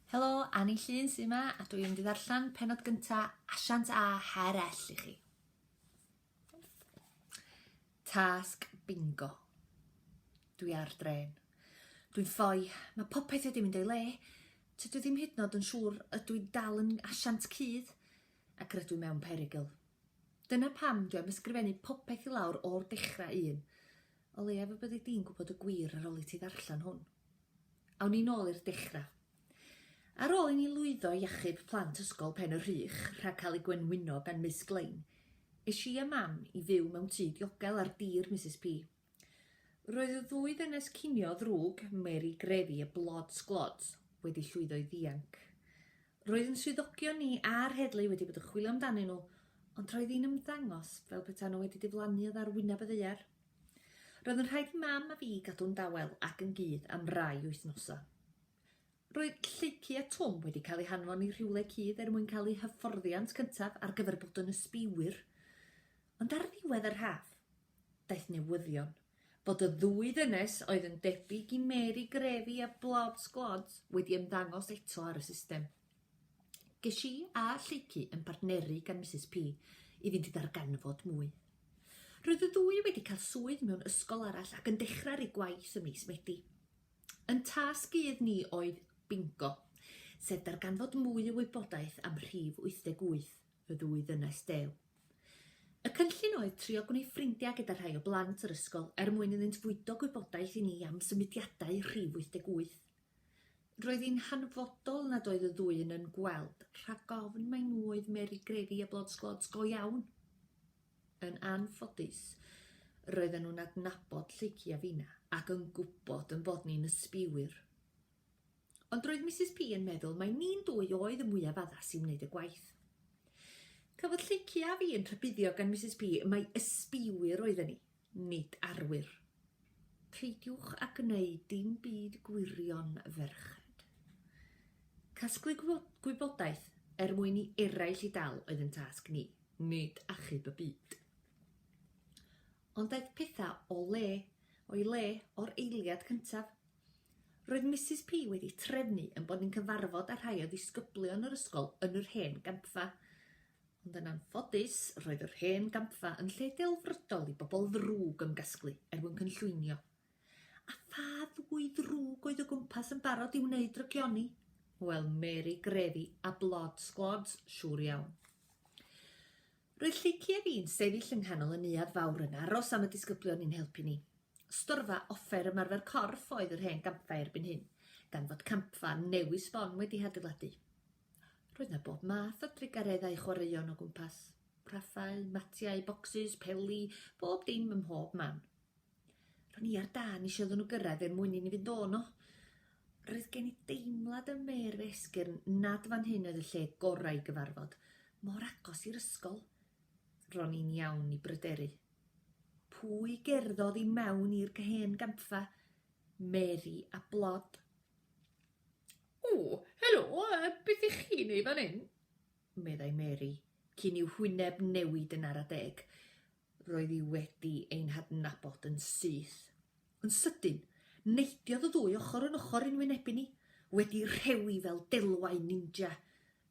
Helo, Annie Llun sy'n yma a dwi'n mynd i ddarllen penod gyntaf Asiant a Herell i chi. Tasg bingo. Dwi ar dren. Dwi'n ffoi. Mae popeth wedi mynd o'i le. Tydw i ddim hyd nod yn siŵr ydw i'n dal yn asiant cudd ac rydw i mewn perygl. Dyna pam dwi am ysgrifennu popeth i lawr o'r dechrau un. O leiaf y byddi di'n gwybod y gwir ar ôl i ti ddarllen hwn. Awn ni nôl i'r dechrau. Ar ôl i ni lwyddo i achub plant Ysgol Pen y Rhych rhag cael eu gwenwyno gan Miss Glain, es i a Mam i fyw mewn tŷ diogel ar dir Misus P. Roedd y ddwy ddynes cinio ddrwg, Mary Grefi a Blod Sglods, wedi llwyddo i ddianc. Roedd yn swyddogion ni a'r heddlu wedi bod yn chwilio amdanyn nhw, ond roedd hi'n ymddangos fel petaen nhw wedi diflannu oddi ar wyneb y ddaear. Roedd yn rhaid i Mam a fi gadw'n dawel ac yn gudd am rai wythnosau. Roedd Lleucu a Twm wedi cael eu hanfon i rhywle cudd er mwyn cael eu hyfforddiant cyntaf ar gyfer bod yn ysbïwyr, ond ar ddiwedd yr haf, daeth newyddion fod y ddwy ddynes oedd yn debyg i Mary Grevy a Blobs Globs wedi ymddangos eto ar y system. Ges i a Lleucu yn bartneru gan Misus Pi i fynd i ddarganfod mwy. Roedd y ddwy wedi cael swydd mewn ysgol arall ac yn dechrau'r eu gwaith ym mis Medi. Yn tasg gudd ni oedd Bingo, sef darganfod mwy o wybodaeth am Rhif 88, y ddwy ddynes dew. Y cynllun oedd trio gwneud ffrindiau gyda rhai o blant yr ysgol er mwyn iddynt fwydo gwybodaeth i ni am symudiadau Rhif 88. Roedd hi'n hanfodol nad oedd y ddwy un yn gweld rhag ofn mai nhw oedd Mary Grevy a Blod Sglods go iawn. Yn anffodus, roedden nhw'n adnabod Lleucu a finna, ac yn gwybod yn bod ni'n ysbïwyr. Ond roedd Misus P yn meddwl mai ni'n dwy oedd y mwyaf addas i wneud y gwaith. Cafodd Lleucu a fi yn rhybuddio gan Misus P mai ysbïwyr oedden ni. Nid arwyr. Peidiwch â gwneud dim byd gwirion, ferched. Casglu gwybodaeth er mwyn i eraill ei dal oedd yn tasg ni, nid achub y byd. Ond daeth pethau o le, o'i le o'r eiliad cyntaf. Roedd Misus P wedi trefnu yn bod ni'n cyfarfod â rhai o ddisgyblion yr ysgol yn yr hen gampfa. Ond yn anffodus, roedd yr hen gampfa yn lle delfrydol i bobl ddrwg ymgasglu er mwyn cynllwynio. A pha ddwy ddrwg oedd o gwmpas yn barod i wneud drygioni? Wel, Mary Grefi a Blod Sglods, siŵr iawn. Roedd Lleucu a fi'n sefyll yng nghanol y neuadd fawr yn aros am y disgyblion i'n helpu ni. Storfa offer ymarfer corff oedd yr hen gampfa erbyn hyn, gan fod campfa newydd sbon wedi hadeiladu. Roedd na bob math o drugaredd a'i chwaraeon o gwmpas. Rhaffau, matiau, bocsys, peli, bob dim ym mhob man. Ro'n i ar dân eisiau iddyn nhw gyrraedd er mwyn i ni fynd o'no. Roedd gen i deimlad ym mêr fy esgyrn nad fan hyn oedd y lle gorau i gyfarfod, mor agos i'r ysgol. Ro'n i'n iawn i bryderu. Pwy gerddodd i mewn i'r hen gampfa? Mary a Blob. O, helo, beth ych chi'n ei fan hyn? meddai Mary, cyn i'w hwyneb newid yn ara deg. Roedd hi wedi ein hadnabod yn syth. Yn sydyn, neidiodd y ddwy ochr yn ochr yn wynebu ni, wedi rhewi fel delwau ninja.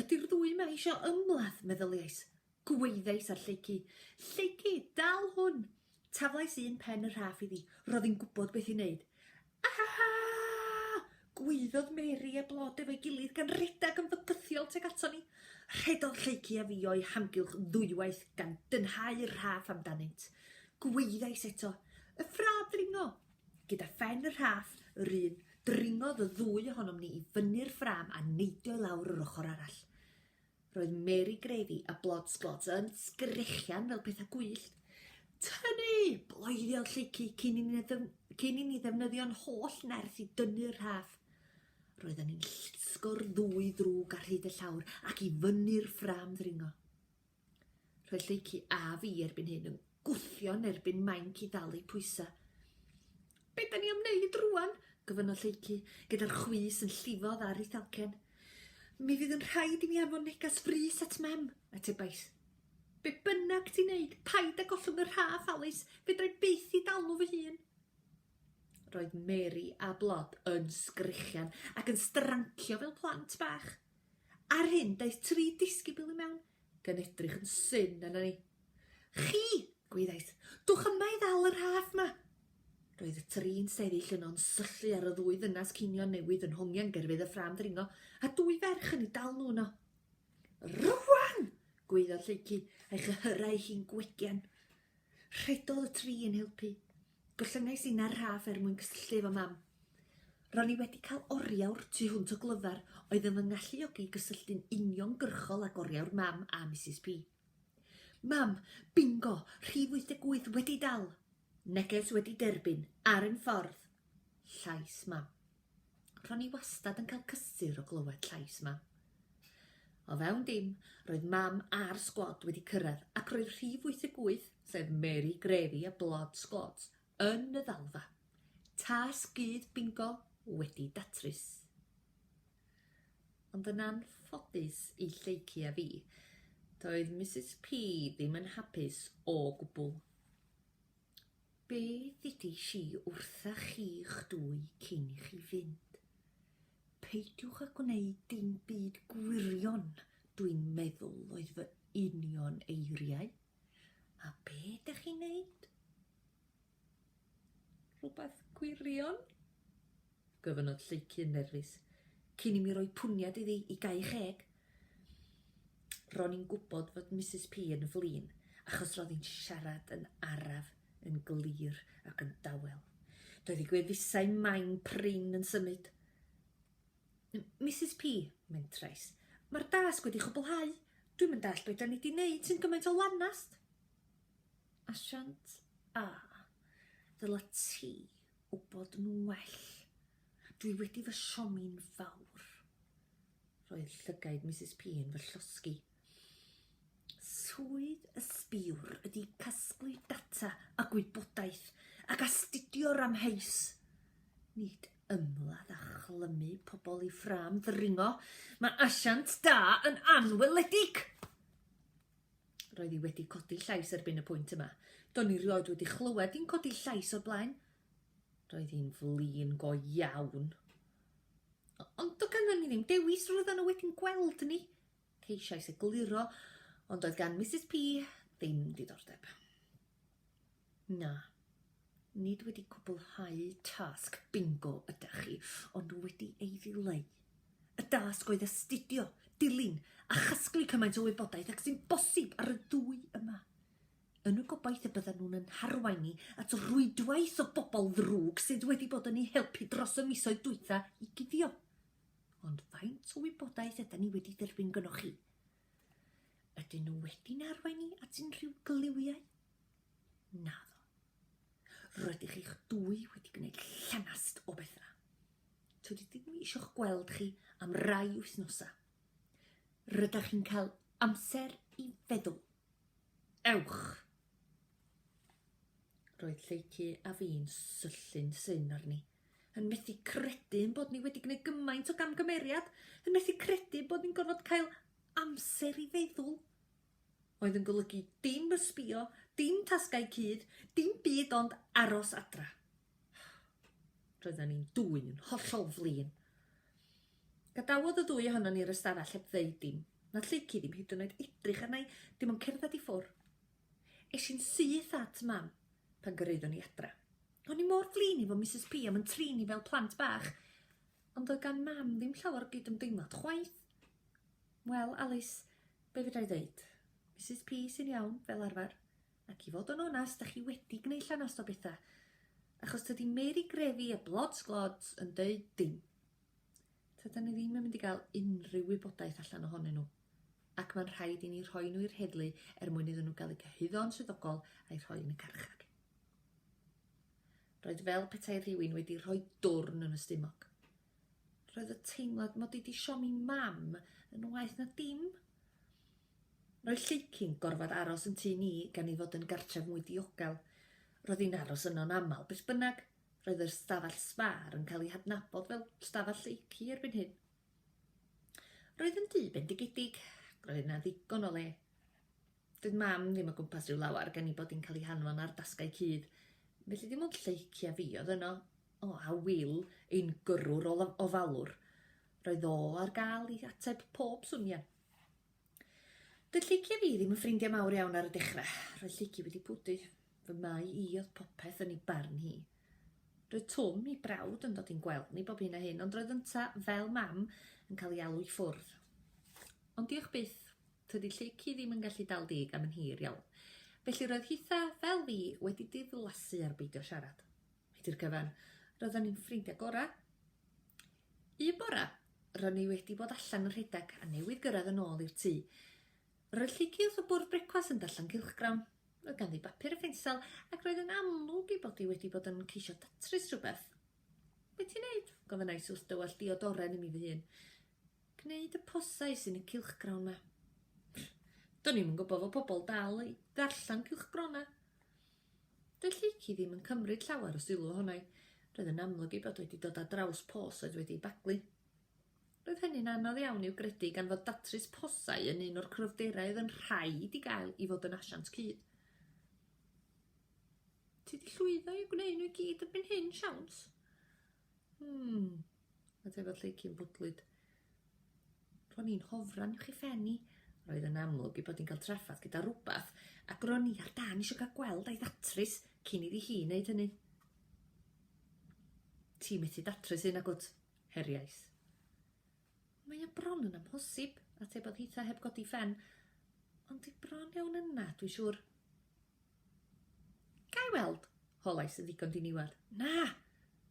Ydy'r ddwy yma eisiau ymladd, meddyliais. Gweiddiais ar Lleucu. Lleucu! Dal hwn! Taflais un pen y rhaff iddi. Roedd hi'n gwybod beth i wneud. Ahaha! Gwaeddodd Mary a Blod efo'i gilydd gan redeg yn fygythiol tuag aton ni. Rhedodd Lleucu a fi o'i hamgylch ddwywaith gan dynhau'r rhaff amdanynt. Gweiddiais eto, Y ffrâm ddringo! Gyda phen y rhaff yr un, dringodd y ddwy ohonom ni i fyny'r ffrâm a neidio i lawr yr ochr arall. Roedd Mary Gravy a Blods Blods yn sgrechian fel pethau gwyllt. Tynnu! Bloeddio lleicu cyn i ni, cyn i ni ddefnyddio'n holl nerth i dynnu'r rhaff. Roedden ni'n llusgo'r ddwy ddrwg ar hyd y llawr ac i fyny'r ffram ddringo. Roedd lleicu a fi erbyn hyn yn gwthio yn erbyn mainc i dalu pwysau. Be da ni am wneud rwan? gofynnodd Lleucu, gyda'r chwys yn llifo ddar i Thalcen. Mi fydd yn rhaid i mi anfon negas frys at Mem, atebais. Be bynnag ti'n neud, paid â gollwng y rhaff, Alys, fedra i byth i dalu fy hun. Roedd Mary a Blod yn sgrechian ac yn strancio fel plant bach. Ar hyn, daeth tri disgybl i mewn, gan edrych yn syn arna ni. Chi! gwyddais. Dwch yma i ddal y rhaff 'ma! Roedd y trin sefyll yno'n syllu ar y ddwy ddynas cinio newydd yn hongian gerfydd y ffrâm ddringo, a dwy ferch yn ei dal nhw yno. Rwan! gweiddodd Lleucu, a'i chyhyrau hi'n gwegen. Rhedodd y tri yn helpu. Gollynais i 'na'r raff er mwyn cysylltu efo Mam. Ro'n i wedi cael oriawr tu hwnt o glyfar oedd yn fy ngalluogi i gysylltu'n uniongyrchol ag oriawr Mam a Misus P. Mam, bingo, rhif 88 wedi dal! Neges wedi derbyn, ar ein ffordd! Llais Mam. Ro'n i wastad yn cael cysur o glywed llais Mam. O fewn dim, roedd Mam a'r sgwad wedi cyrraedd ac roedd rhif 88, sef Mary Grevy a Blood Squads, yn y ddalfa. Tasg gudd bingo wedi datrys. Ond yn anffodus i Lleucu a fi, doedd Misus P ddim yn hapus o gwbl. Be ddeudais i wrtha chi'ch dwy cyn i chi fynd? Peidiwch â gwneud dim byd gwirion, dwi'n meddwl oedd fy union eiriau. A be dych chi'n neud? Rhywbeth gwirion? Gofynnodd Lleucu yn nerfus. Cyn i mi roi pwniad iddi i gau cheg! Ro'n i'n gwybod fod Misus P yn flin, achos ro'dd hi'n siarad yn araf, yn glir ac yn dawel. Doedd ei gwefusau main prin yn symud. Misus P, mentrais, mae'r dasg wedi chwblhau! Dwi'm yn dallt be da ni di neud sy'n gymaint o lanast! Asiant A, ddyla ti wybod nhw'n well. Dwi wedi fy siomi'n fawr. Roedd llygaid Misus P yn fy llosgi. Swydd y sbiwr ydy casglu data a gwybodaeth ac astudio'r amheus. Nid ymladd a chlymu pobl i ffrâm ddringo. Mae asiant da yn anweledig! Roedd hi wedi codi llais erbyn y pwynt yma. Do'n i rioed wedi chlywed hi'n codi llais o'r blaen. Roedd hi'n flin go iawn. Ond do ganddyn ni ddim dewis, roedd yna wedi'n gweld ni. Ceisiais egluro, ond oedd gan Mrs P ddim diddordeb. Na. Nid wedi cwblhau tasg bingo ydych chi, ond wedi ei ddileu. Y dasg oedd astudio, dilyn a chasglu cymaint o wybodaeth ag sy'n bosib ar y ddwy yma, yn y gobaith y byddan nhw'n yn harwain ni at rwydwaith o bobl ddrwg sydd wedi bod yn eu helpu dros y misoedd dwytha i guddio. Ond faint o wybodaeth ydan ni wedi dderbyn gynnoch chi? Ydyn nhw wedi'n arwain ni at unrhyw gliwiau? Naddo. Rydych chi'ch dwy wedi gwneud llanast o bethau. Tydi ddim eisiau gweld chi am rai wythnosau. Rydych chi'n cael amser i feddwl. Ewch! Roedd Lleucu a fi'n syllu'n syn arni. yn methu credu ein bod ni wedi gwneud gymaint o gamgymeriad, yn methu credu bod ni'n gorfod cael amser i feddwl, oedd yn golygu dim ysbio, dim tasgau cudd, dim byd ond aros adra. Roedden ni'n dwy'n yn hollol flin. Gadawodd y ddwy ohono ni'r ystafell heb ddeud dim. Na lleici ddim hyd yn oed edrych arna i, dim ond cerdded i ffwr'. Es i'n syth at Mam pan gyrhaeddwn i adra. O'n i mor flin efo Misus Pi am yn trin ni fel plant bach, ond doedd gan Mam ddim llawer o gydymdeimlad chwaith. Wel, Alis, be fedra i ddeud? Misus Pi sy'n iawn, fel arfer. Ac i fod yn onast, 'da chi wedi gwneud llanast o bethau, achos tydi Mary Grefi a Blods Glods yn deud dim. Tydan ni ddim yn mynd i gael unrhyw wybodaeth allan ohonyn nhw, ac mae'n rhaid i ni rhoi nhw i'r heddlu er mwyn iddyn nhw gael eu cyhuddo'n swyddogol a'u rhoi yn y carchar. Roedd fel petai rhywun wedi rhoi dwrn yn y stumog. Roedd y teimlad mod i 'di siomi mam yn waeth na dim. Roedd Lleucyn gorfod aros yn tŷ ni gan ei fod yn gartref mwy diogel. Roedd hi'n aros yno'n aml beth bynnag, Roedd yr ystafell sbâr yn cael ei hadnabod fel stafell lleucu erbyn hyn. Roedd yn dŷ bendigedig ac roedd yna ddigon o le. Doedd mam ddim o gwmpas rhyw lawer gan ei bod hi'n cael ei hanfon ar dasgau cudd, felly dim ond lleic a fi oedd yno. O, a Wil, ein gyrrwr o ofalwr, roedd o ar gael i ateb pob swnio. Doedd Llici a fi ddim yn ffrindiau mawr iawn ar y dechrau. Roedd Llici wedi pwdu. Fy mai i oedd popeth yn ei barn hi. Roedd Twm, ei brawd, yn dod i'n gweld ni bob hyn a hyn, ond roedd ynta, fel mam, yn cael ei alw i ffwrdd. Ond diolch byth, tydi Llici ddim yn gallu dal deg am yn hir iawn. Felly roedd hitha, fel fi, wedi diflasu ar beidio siarad. Hyd i'r cyfan, roeddan ni'n ffrindiau gorau. Un bore, ro'n i wedi bod allan yn rhedeg a newydd gyrraedd yn ôl i'r tŷ. Roedd Llici wrth y bwrdd brecwast yn darllen cylchgrawn. Roedd ganddi bapur a phensel ac roedd yn amlwg ei bod hi wedi bod yn ceisio datrys rhywbeth. Be ti'n neud? gofynnais wrth dywallt diodoren i mi fy hun. Gwneud y posau sy'n y cylchgrawn 'ma. Do'n i'm yn gwybod fod pobl dal i ddarllen cylchgronau. Doedd Lleucu ddim yn cymryd llawer o sylw ohono i. Roedd yn amlwg ei bod wedi dod ar draws pos oedd wedi ei baglu. Roedd hynny'n anodd iawn i'w gredu gan fod datrys posau yn un o'r cryfderau oedd yn rhaid i gael i fod yn asiant cudd. Ti 'di llwyddo i gwneud nhw i gyd erbyn hyn, siawns? Hmm. A tefa lleici'n bwdlyd. Ro'n i'n hofran uwch i phen i. Roedd yn amlwg i bod hi'n cael traffath gyda rhywbeth, ac ro'n i ar dan eisiau cael gweld a'i ddatrys cyn iddi hi wneud hynny. Ti methu datrys hyn, agwt? Heriais. Mae o bron yn amhosib, atebodd Hitha heb godi phen. Ond dwi bron iawn yna, dwi siŵr. Gai weld? holais yn ddigon diniwed. Na!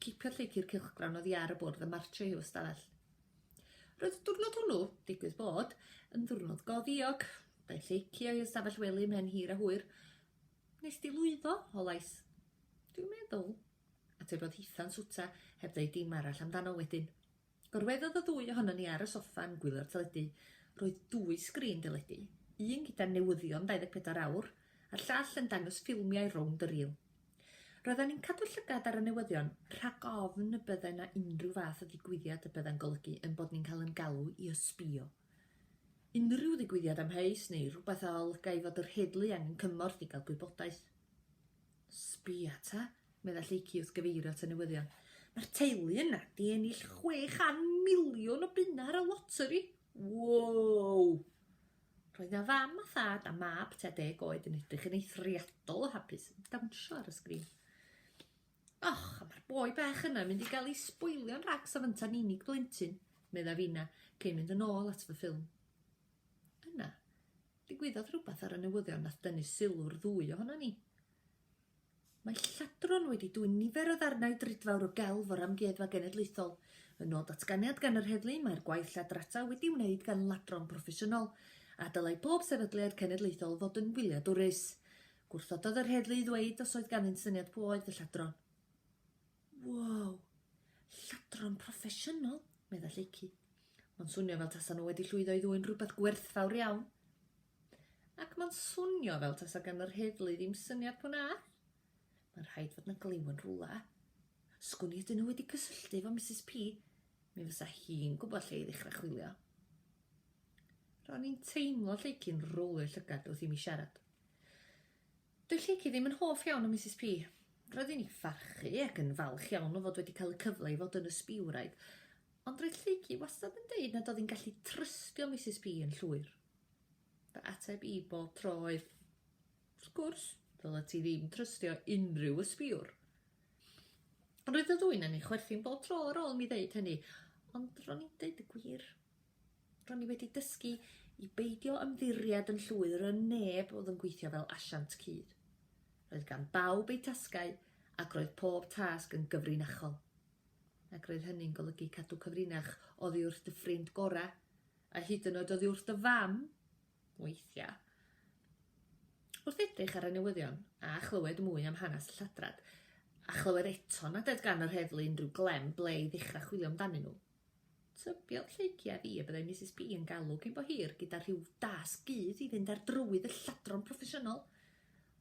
Cipiodd Lleic i'r cylchgrawn oddi ar y bwrdd a martio i'w ystafell. Roedd y diwrnod hwnnw, digwydd bod, yn ddiwrnod go ddiog. Daeth Lleici o'i ystafell wely mhen hir a hwyr. Nes di lwyddo? holais. Dwi'n meddwl, atebodd Hitha'n swta, heb ddweud dim arall amdano wedyn. Gorweddodd y ddwy ohonon ni ar y soffa yn gwylio'r teledu. Roedd dwy sgrin deledu, un gyda newyddion 24 awr a'r llall yn dangos ffilmiau rownd y rîl. Roeddan ni'n cadw llygad ar y newyddion rhag ofn y bydde 'na unrhyw fath o ddigwyddiad y bydda'n golygu ein bod ni'n cael ein galw i ysbïo. Unrhyw ddigwyddiad amheus neu rhywbeth a olygai fod yr heddlu angen cymorth i gael gwybodaeth. Sbia ta, medda Lleucu wrth gyfeirio at y newyddion. Mae'r teulu yna di ennill chwe chan miliwn o bunna ar y loteri! Woow! Roedd na fam a thad a mab tua deg oed yn edrych yn eithriadol o hapus, yn dawnsio ar y sgrin. Och, a mae'r boi bach yna mynd i gael ei sboilio'n rhags a fynta'n unig blentyn, medda Fina, cyn mynd yn ôl at fy ffilm. Yna, Digwyddodd rhywbeth ar y newyddion nath dynnu sylw'r ddwy ohonon ni. Mae lladron wedi dwyn nifer o ddarnau drudfawr o gelf o'r Amgueddfa Genedlaethol. Yn ôl datganiad gan yr heddlu, mae'r gwaith lladrata wedi'i wneud gan ladron proffesiynol, a dylai pob sefydliad cenedlaethol fod yn wyliadwrus. Gwrthododd yr heddlu i ddweud os oedd ganddynt syniad pwy oedd y lladron. Wow! Lladron proffesiynol! medda Lleucu. Mae'n swnio fel tasa nhw wedi llwyddo i ddwyn rhywbeth gwerthfawr iawn. Ac mae'n swnio fel tasa gan yr heddlu ddim syniad pwy na. Mae'n rhaid fod na glyw yn rhywle. Sgwn i ydyn nhw wedi cysylltu efo Mrs P. Mi fysa hi'n gwybod lle i ddechrau chwilio. Ro'n i'n teimlo Lleucu'n rowlio llygad wrth i mi siarad. Dyw Lleucu ddim yn hoff iawn o Misus Pi. Roedden ni pharchu ac yn falch iawn o fod wedi cael y cyfle i fod yn ysbiwraig, ond roedd Lleucu wastad yn deud nad oedd hi'n gallu trystio Misus Pi yn llwyr. Fy ateb i bob tro oedd, Wrth gwrs, ddylet ti ddim trystio unrhyw ysbiwr. Roedd y ddwyn yn ei chwerthin bob tro ar ôl mi ddeud hynny, ond ro'n i'n deud y gwir. Ro'n i wedi dysgu i beidio ymddiried yn llwyr yn neb oedd yn gweithio fel asiant cudd. Roedd gan bawb eu tasgau ac roedd pob tasg yn gyfrinachol. Ac roedd hynny'n golygu cadw cyfrinach oddi wrth dy ffrind gorau, a hyd yn oed oddi wrth dy fam, weithiau. Wrth edrych ar y newyddion a chlywed mwy am hanes y lladrad, a chlywed eto nad oedd gan yr heddlu unrhyw glem ble i ddechrau chwilio amdanyn nhw, Tybiodd Lleucia fi y byddai Misus P yn galw cyn bo hir gyda rhyw dasg gudd i fynd ar drywydd y lladron proffesiynol.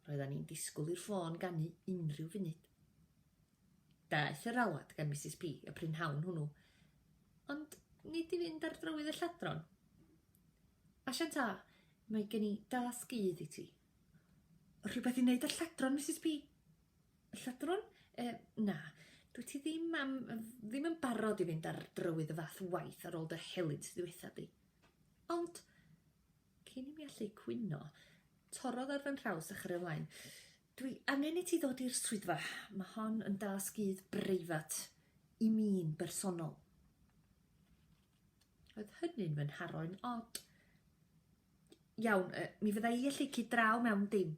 Roeddan ni'n disgwyl i'r ffôn ganu unrhyw funud. Daeth yr alwad gan Misus P y prynhawn hwnnw. Ond nid i fynd ar drywydd y lladron. Asiant A, mae gen i dasg gudd i ti. Rhywbeth i wneud â'r lladron, Misus P? Lladron? Yy, na. Dwyt ti ddim am... ddim yn barod i fynd ar drywydd y fath waith ar ôl dy helynt ddiwetha di. Ond, cyn i mi allu cwyno, torrodd ar fy nhraws a chyrraedd ymlaen. Dwi angen i ti ddod i'r swyddfa. Mae hon yn dasg udd breifat i mi'n bersonol. Oedd hynny'n fy nharo'n od. Iawn, uh, mi fydda i allu cyd draw mewn dim.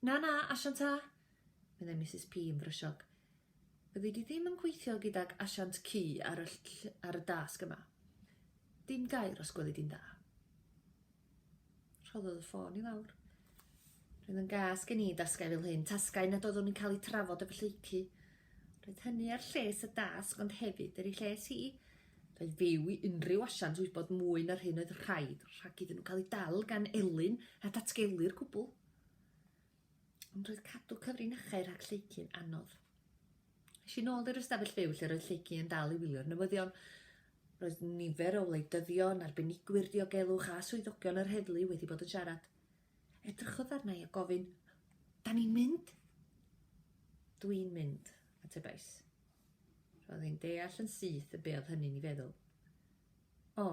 Na, na, asiant A! meddai Misus P. yn frysiog. Fyddi di ddim yn gweithio gydag asiant Q ar y ll ar y dasg yma. Dim gair, os gweli di'n dda. Rhoddodd y ffôn i lawr. Roedd yn gas gen i dasgau fel hyn, tasgau nad oeddwn i'n cael eu trafod efo lleicu. Roedd hynny ar lles y dasg ond hefyd ar ei lles hi. Roedd fyw i unrhyw asiant wybod mwy na'r hyn oedd rhaid rhag iddyn nhw cael eu dal gan Elin a datgelu'r cwbl. Ond roedd cadw cyfrinachau rhag Lleucu'n anodd. Es i nôl i'r ystafell fyw lle roedd Lleucu yn dal i wylio'r newyddion. Roedd nifer o wleidyddion, arbenigwyr diogelwch a swyddogion yr heddlu wedi bod yn siarad. Edrychodd arna i a gofyn, Da ni'n mynd? Dwi'n mynd, atebais. Roedd hi'n deall yn syth y be oedd hynny'n ei feddwl. O,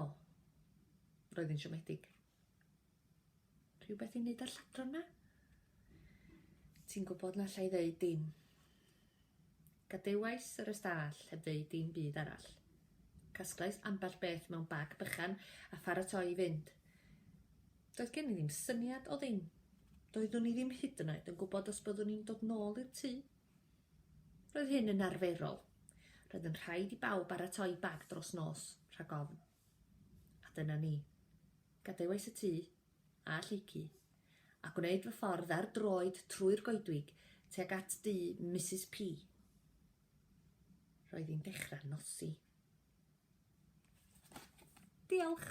roedd hi'n siomedig. Rhywbeth i wneud â'r lladron 'ma? Ti'n gwybod na allai ddeud dim. Gadewais yr ystâll heb ddeud dim byd arall. Casglais ambell beth mewn bag bychan a pharatoi i fynd. Doedd gen i ddim syniad o ddim. Doeddwn i ddim hyd yn oed yn gwybod os byddwn i'n dod nôl i'r tŷ. Roedd hyn yn arferol. Roedd yn rhaid i bawb baratoi bag dros nos, rhag ofn. A dyna ni. Gadewais y tŷ, a Lleucu, a gwneud fy ffordd ar droed trwy'r goedwig tuag at dŷ Misus P. Roedd hi'n dechrau nosi. Diolch!